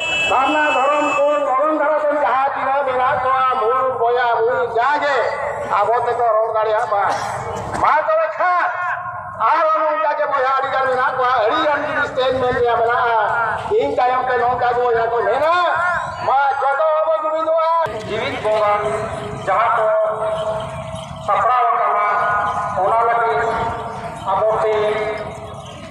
ᱥᱟᱨᱱᱟ ᱫᱷᱚᱨᱚᱢ ᱠᱚ ᱫᱷᱚᱨᱚᱢ ᱫᱷᱟᱨᱟ ᱫᱚ ᱡᱟᱦᱟᱸ ᱛᱤᱱᱟᱹᱜ ᱢᱮᱱᱟᱜ ᱠᱚᱣᱟ ᱢᱩᱞ ᱵᱚᱭᱟ ᱢᱩᱞ ᱡᱟᱜᱮ ᱟᱵᱚ ᱛᱮᱠᱚ ᱨᱚᱲ ᱫᱟᱲᱮᱭᱟᱜ ᱢᱟ ᱢᱟ ᱛᱚᱵᱮ ᱠᱷᱟᱱ ᱟᱨᱦᱚᱸ ᱱᱚᱝᱠᱟ ᱜᱮ ᱵᱚᱭᱦᱟ ᱟᱹᱰᱤ ᱜᱟᱱ ᱢᱮᱱᱟᱜ ᱠᱚᱣᱟ ᱟᱹᱰᱤ ᱜᱟᱱ ᱡᱤᱱᱤᱥ ᱛᱮᱧ ᱢᱮᱱ ᱨᱮᱭᱟᱜ ᱢᱮᱱᱟᱜᱼᱟ ᱤᱧ ᱛᱟᱭᱚᱢ ᱛᱮ ᱱᱚᱝᱠᱟ ᱜᱮ ᱵᱚᱭᱦᱟ ᱠᱚ ᱢᱮᱱᱟ ᱢᱟ ᱡᱚᱛᱚ ᱵᱚ ᱡᱩᱢᱤᱫᱚᱜᱼᱟ ᱡᱤᱣᱤᱫ ᱵᱚᱸᱜᱟ ᱡᱟᱦᱟᱸ ᱠᱚ ᱥᱟᱯᱲᱟᱣ ᱟᱠᱟᱱᱟ ᱚᱱᱟ ᱞᱟᱹᱜᱤᱫ ᱟᱵᱚ ᱛᱮ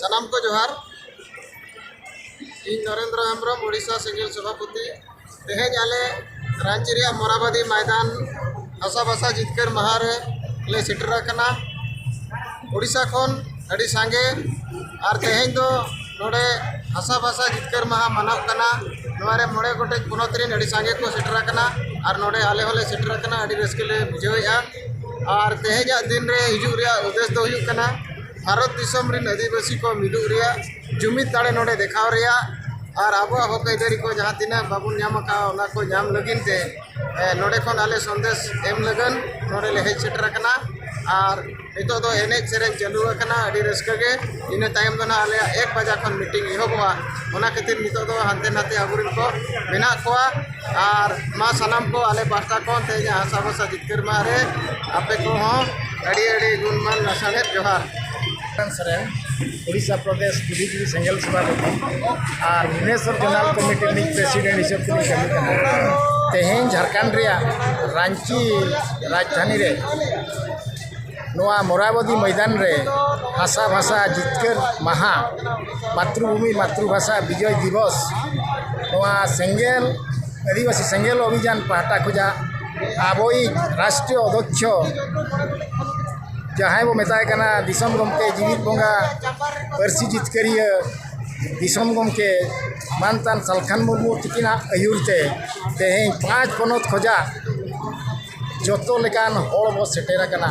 ᱥᱟᱱᱟᱢ ᱠᱚ ᱡᱚᱦᱟᱨ ᱤᱧ ᱱᱚᱨᱮᱱᱫᱨᱚ ᱦᱮᱢᱵᱨᱚᱢ ᱳᱰᱤᱥᱟ ᱥᱤᱝᱜᱮᱞ ᱥᱚᱵᱷᱟᱯᱚᱛᱤ ᱛᱮᱦᱮᱧ ᱟᱞᱮ ᱨᱟᱺᱪᱤ ᱨᱮᱭᱟᱜ ᱢᱚᱨᱟᱵᱟᱫᱤ ᱢᱚᱭᱫᱟᱱ ᱦᱟᱥᱟ ᱵᱷᱟᱥᱟ ᱡᱤᱛᱠᱟᱹᱨ ᱢᱟᱦᱟ ᱨᱮ ᱞᱮ ᱥᱮᱴᱮᱨ ᱟᱠᱟᱱᱟ ᱳᱰᱤᱥᱟ ᱠᱷᱚᱱ ᱟᱹᱰᱤ ᱥᱟᱸᱜᱮ ᱟᱨ ᱛᱮᱦᱮᱧ ᱫᱚ ᱱᱚᱰᱮ ᱦᱟᱥᱟ ᱵᱷᱟᱥᱟ ᱡᱤᱛᱠᱟᱹᱨ ᱢᱟᱦᱟ ᱢᱟᱱᱟᱜ ᱠᱟᱱᱟ ᱱᱚᱣᱟ ᱨᱮ ᱢᱚᱬᱮ ᱜᱚᱴᱮᱡ ᱯᱚᱱᱚᱛ ᱨᱮᱱ ᱟᱹᱰᱤ ᱥᱟᱸᱜᱮ ᱠᱚ ᱥᱮᱴᱮᱨ ᱟᱠᱟᱱᱟ ᱟᱨ ᱱᱚᱰᱮ ᱟᱞᱮ ᱦᱚᱸᱞᱮ ᱥᱮᱴᱮᱨ ᱟᱠᱟᱱᱟ ᱟᱹᱰᱤ ᱨᱟᱹᱥᱠᱟᱹ ᱞᱮ ᱵᱩᱡᱷᱟᱹᱣᱮᱜᱼᱟ ᱟᱨ ᱛᱮᱦᱮᱧᱟᱜ ᱫᱤᱱ ᱨᱮ ᱦᱤᱡᱩᱜ ᱨᱮᱭᱟᱜ ᱩᱫᱽᱫᱮᱥ ᱫᱚ ᱦᱩᱭᱩᱜ ᱠᱟᱱᱟ ᱵᱷᱟᱨᱚᱛ ᱫᱤᱥᱚᱢ ᱨᱮᱱ ᱟᱹᱫᱤᱵᱟᱹᱥᱤ ᱠᱚ ᱢᱤᱫᱚᱜ ᱨᱮᱭᱟᱜ ᱡᱩᱢᱤᱫ ᱫᱟᱲᱮ ᱱᱚᱰᱮ ᱫᱮᱠᱷᱟᱣ ᱨᱮᱭᱟᱜ ᱟᱨ ᱟᱵᱚᱣᱟᱜ ᱦᱚᱠ ᱟᱹᱭᱫᱟᱹᱨᱤ ᱠᱚ ᱡᱟᱦᱟᱸ ᱛᱤᱱᱟᱹᱜ ᱵᱟᱵᱚᱱ ᱧᱟᱢ ᱟᱠᱟᱫᱼᱟ ᱚᱱᱟ ᱠᱚ ᱧᱟᱢ ᱞᱟᱹᱜᱤᱫ ᱛᱮ ᱱᱚᱰᱮ ᱠᱷᱚᱱ ᱟᱞᱮ ᱥᱚᱱᱫᱮᱥ ᱮᱢ ᱞᱟᱹᱜᱤᱫ ᱱᱚᱰᱮ ᱞᱮ ᱦᱮᱡ ᱥᱮᱴᱮᱨ ᱟᱠᱟᱱᱟ ᱟᱨ ᱱᱤᱛᱚᱜ ᱫᱚ ᱮᱱᱮᱡ ᱥᱮᱨᱮᱧ ᱪᱟᱹᱞᱩ ᱟᱠᱟᱱᱟ ᱟᱹᱰᱤ ᱨᱟᱹᱥᱠᱟᱹ ᱜᱮ ᱤᱱᱟᱹ ᱛᱟᱭᱚᱢ ᱫᱚ ᱦᱟᱸᱜ ᱟᱞᱮᱭᱟᱜ ᱮᱠ ᱵᱟᱡᱟ ᱠᱷᱚᱱ ᱢᱤᱴᱤᱝ ᱮᱦᱚᱵᱚᱜᱼᱟ ᱚᱱᱟ ᱠᱷᱟᱹᱛᱤᱨ ᱱᱤᱛᱚᱜ ᱫᱚ ᱦᱟᱱᱛᱮ ᱱᱟᱛᱮ ᱟᱵᱚ ᱨᱮᱱ ᱠᱚ ᱢᱮᱱᱟᱜ ᱠᱚᱣᱟ ᱟᱨ ᱢᱟ ᱥᱟᱱᱟᱢ ᱠᱚ ᱟᱞᱮ ᱯᱟᱦᱴᱟ ᱠᱷᱚᱱ ᱛᱮᱦᱮᱧ ᱟᱜ ᱦᱟᱥᱟ ᱵᱷᱟᱥᱟ ᱡᱤᱛᱠᱟᱹᱨ ᱢᱟᱦᱟ ᱨᱮ ᱟᱯᱮ ᱠᱚᱦᱚᱸ ᱟᱹᱰᱤ ᱟᱹᱰᱤ ᱜᱩᱱ ᱢᱟᱱ ᱞᱟᱥᱟᱲᱦᱮᱫ ᱡᱚᱦᱟᱨ ᱦᱮᱢᱵᱨᱚᱢ ᱥᱚᱨᱮᱱ ᱳᱰᱤᱥᱟ ᱯᱨᱚᱫᱮᱥ ᱡᱩᱫᱤ ᱥᱮᱸᱜᱮᱞ ᱥᱮᱵᱟ ᱫᱮᱵᱤ ᱟᱨ ᱵᱷᱩᱵᱽᱱᱮᱥᱚᱨ ᱡᱳᱱᱟᱞ ᱠᱚᱢᱤᱴᱤ ᱨᱤᱱᱤᱡ ᱯᱨᱮᱥᱤᱰᱮᱱᱴ ᱦᱤᱥᱟᱹᱵ ᱛᱮᱞᱤᱧ ᱠᱟᱹᱢᱤ ᱠᱟᱱᱟ ᱛᱮᱦᱮᱧ ᱡᱷᱟᱲᱠᱷᱚᱸᱰ ᱨᱮᱭᱟᱜ ᱨᱟᱺᱪᱤ ᱨᱟᱡᱽᱫᱷᱟᱱᱤ ᱨᱮ ᱱᱚᱣᱟ ᱢᱚᱨᱟᱵᱚᱛᱤ ᱢᱚᱭᱫᱟᱱ ᱨᱮ ᱵᱷᱟᱥᱟ ᱵᱷᱟᱥᱟ ᱡᱤᱛᱠᱟᱹᱨ ᱢᱟᱦᱟ ᱢᱟᱛᱨᱩ ᱵᱷᱩᱢᱤ ᱢᱟᱛᱨᱩ ᱵᱷᱟᱥᱟ ᱵᱤᱡᱚᱭ ᱫᱤᱵᱚᱥ ᱱᱚᱣᱟ ᱥᱮᱸᱜᱮᱞ ᱟᱹᱫᱤᱵᱟᱹᱥᱤ ᱥᱮᱸᱜᱮᱞ ᱚᱵᱷᱤᱡᱟᱱ ᱯᱟᱦᱴᱟ ᱠᱷᱚᱱᱟᱜ ᱟᱵᱚᱭᱤᱡ ᱨᱟᱥᱴᱨᱤᱭᱚ ᱚᱫᱷᱚᱠᱥᱚ ᱡᱟᱦᱟᱸᱭ ᱵᱚᱱ ᱢᱮᱛᱟᱭ ᱠᱟᱱᱟ ᱫᱤᱥᱚᱢ ᱜᱚᱢᱠᱮ ᱡᱤᱣᱤᱫ ᱵᱚᱸᱜᱟ ᱯᱟᱹᱨᱥᱤ ᱡᱤᱛᱠᱟᱹᱨᱤᱭᱟᱹ ᱫᱤᱥᱚᱢ ᱜᱚᱢᱠᱮ ᱢᱟᱱᱚᱛᱟᱱ ᱥᱟᱞᱠᱷᱟᱱ ᱢᱩᱨᱢᱩ ᱛᱟᱹᱠᱤᱱᱟᱜ ᱟᱹᱭᱩᱨ ᱛᱮ ᱛᱮᱦᱮᱧ ᱯᱟᱸᱪ ᱯᱚᱱᱚᱛ ᱠᱷᱚᱱᱟᱜ ᱡᱚᱛᱚ ᱞᱮᱠᱟᱱ ᱦᱚᱲ ᱵᱚᱱ ᱥᱮᱴᱮᱨ ᱟᱠᱟᱱᱟ